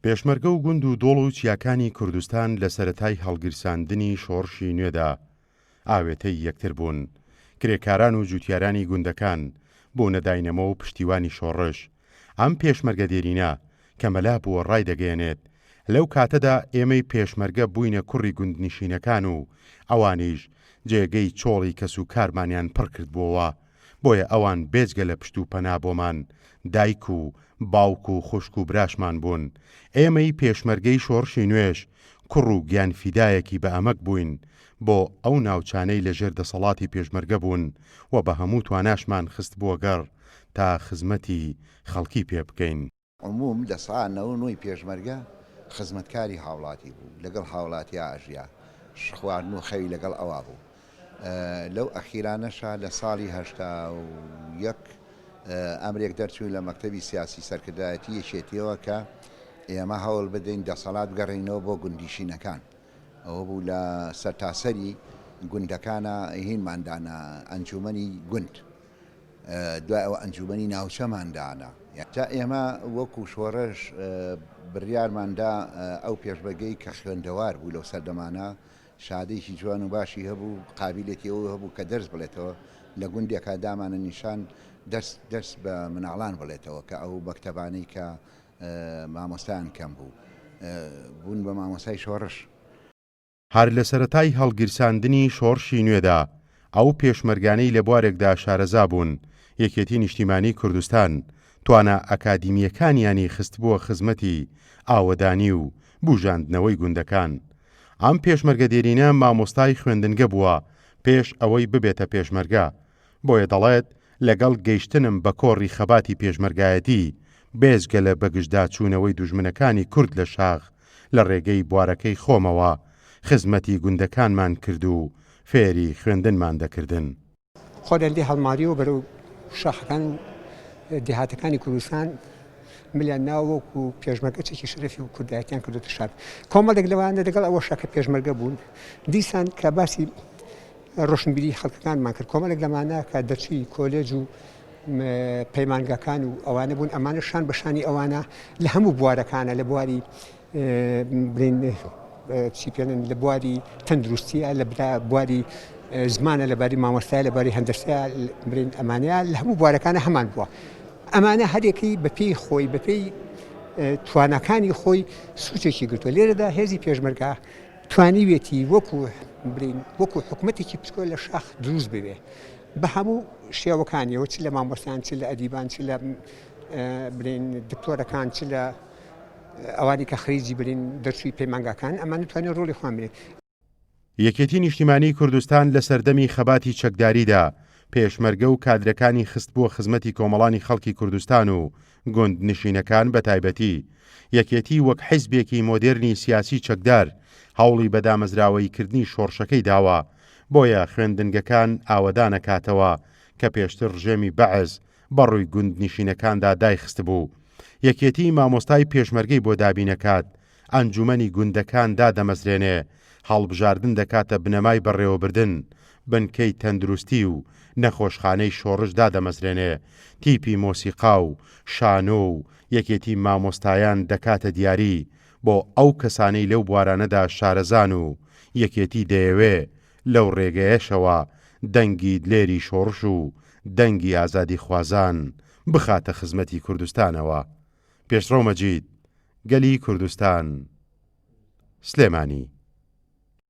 پێشمەرگە و گوند و دۆڵ و چیاکانی کوردستان لە سەرەتای هەڵگیرساندنی شۆڕشی نوێدا ئاوێتەی یەکتر بوون، کرێکاران و جووتیارانی گوندەکان بوونە داینەمۆ و پشتیوانی شۆڕش، ئەم پێشمەرگە دێرینە کە مەلا بووە ڕایدەگەیەنێت، لەو کاتەدا ئێمەی پێشمەرگە بووینە کوڕی گوندنشینەکان و ئەوانیش جێگەی چۆڵی کەسوکارمانیان پڕکردبووەوە، بۆیە ئەوان بێجگە لە پشت و پەنا بۆمان دایک و باوک و خوشک و براشمان بوون، ئێمەی پێشمەرگەی شۆڕشی نوێش کوڕ و گیان فیدایەکی بە ئەمەک بووین بۆ ئەو ناوچانەی لە ژێر دەسەڵاتی پێشمەرگە بوون و بە هەموو تواناشمان خستبووەگەڕ تا خزمەتی خەڵکی پێ بکەین. عموم لە سا نە و نۆی پێشمەرگە خزمەتکاری هاوڵاتی بوو لەگەڵ هاوڵاتیا ئەژیا ش خواردن و خەوی لەگەڵ ئەوا بوو لەو ئەخیرانەشا لە ساڵی هەشتا و یەک ئەمرێک دەرچووین لە مەکتەبی سیاسی سەرکردایەتی یەکێتیەوە کە ئێمە هەوڵ بدەین دەسەڵات بگەڕینەوە بۆ گوندیشینەکان ئەوە بوو لە سەرتاسەری گوندەکانە هینماندانە ئەنجومەنی گوند دوای ئەوە ئەنجوومەنی ناوچەمان دانا. تا ئێمە وەکوو شۆڕش بڕیارمان دا ئەو پێشمەرگەی کە خوێندەوار بوو لەو سەردەمانە، شەهادەیەکی جوان و باشی هەبوو، قابیلێتی ئەوە هەبوو کە دەرس بڵێتەوە، لە گوندێکا دامانە نیشان دەرس بە مناڵان بڵێتەوە کە ئەو مەکتەبانەی کە مامۆستایان کەم بوو، بوون بە مامۆستای شۆڕش. هەر لە سەرەتای هەڵگیرساندنی شۆڕشی نوێدا، ئەو پێشمەرگانەی لە بوارێکدا شارەزا بوون، یەکێتی نیشتیمانی کوردستان، توانا ئەکادیمییەکانیانی خستبووە خزمەتی ئاوەدانی و بووژاندنەوەی گوندەکان. ئەم پێشمەرگە دێرینە مامۆستای خوێندنگە بووە پێش ئەوەی ببێتە پێشمەرگە. بۆیە دەڵێت، لەگەڵ گەیشتنم بە کۆڕی خەباتی پێشمەرگایەتی، بێجگە لە بەگژداچوونەوەی دوژمنەکانی کورد لە شاخ، لە ڕێگەی بوارەکەی خۆمەوە خزمەتی گوندەکانمان کرد و فێری خوێندنمان دەکردن. خۆیان لێ هەڵمارییەوە بەرەو شاخەکان و دێهاتەکانی کوردستان ملیان ناوە وەکو پێشمەرگە چەکی شەرەفی و کوردایەتیان کردوتە شار. کۆمەڵێک لەوانە لەگەڵ ئەوەشە کە پێشمەرگە بوون دیسان کە باسی ڕۆشنبیری خەڵکەکانمان کرد کۆمەڵێک لەمانە کە دەرچووی کۆلێج و پەیمانگاکان و ئەوانە بوون ئەمانە شان بە شانی ئەوانە لە هەموو بوارەکانە لە بواری بڵین چی پێێنن لە بواری تەندروستیە لە بواری زمانە لەباری مامۆستای لەباری هەندرسیا برین ئەمانەیە لە هەموو بوارەکانە هەمان بووە ئەمانە هەرێکی بەپی خۆی بەپی توانەکانی خۆی سوچێکی گرتووە لێرەدا هێزی پێشمەرگا توانیوێتی وەکو بلین وەکو حکومەتێکی پچکۆ لە شاخ دروست ببێ بە هەموو شێوەکانیەوە چ لە مامۆستان چ لە ئەدیبان چ لە بلین دکتۆرەکان چ لە ئەوانی کە خەریجی برین دەرچووی پەیمانگاکان ئەمان توانێت ڕۆڵی خۆیان بێت یەکێتی نیشتیمانی کوردستان لە سەردەمی خەباتی چەکداریدا پێشمەرگە و کادرەکانی خستبووە خزمەتی کۆمەڵانی خەڵکی کوردستان و گوندنشینەکان بە تایبەتی، یەکێتی وەک حیزبێکی مۆدێرنی سیاسی چەکدار، هەوڵی بە دامەزراوەییکردنی شۆڕشەکەی داوە، بۆیە خوێندنگەکان ئاوەدانەکاتەوە، کە پێشتر ڕژێمی بەعس بە ڕووی گوندنشینەکاندا دایخستبوو. یەکێتی مامۆستای پێشمەرگەی بۆ دابینەکات، ئەنجومەنی گوندەکان دادەمەزرێنێ، هەڵبژاردن دەکاتە بنەمای بەڕێوەبردن، بنکەی تەندروستی و نەخۆشخانەی شۆڕش دادەمەزرێنێ، تیپی مۆسیقا و شانۆ و یەکێتی مامۆستایان دەکاتە دیاری بۆ ئەو کەسانەی لەو بوارانەدا شارەزان و یەکێتی دەیەوێ لەو رێگەیەشەوە دەنگی دلێری شۆڕش و دەنگی ئازادیخوازان بخاتە خزمەتی کوردستانەوە. پێشڕەو مەجید، گەلی کوردستان، سلێمانی.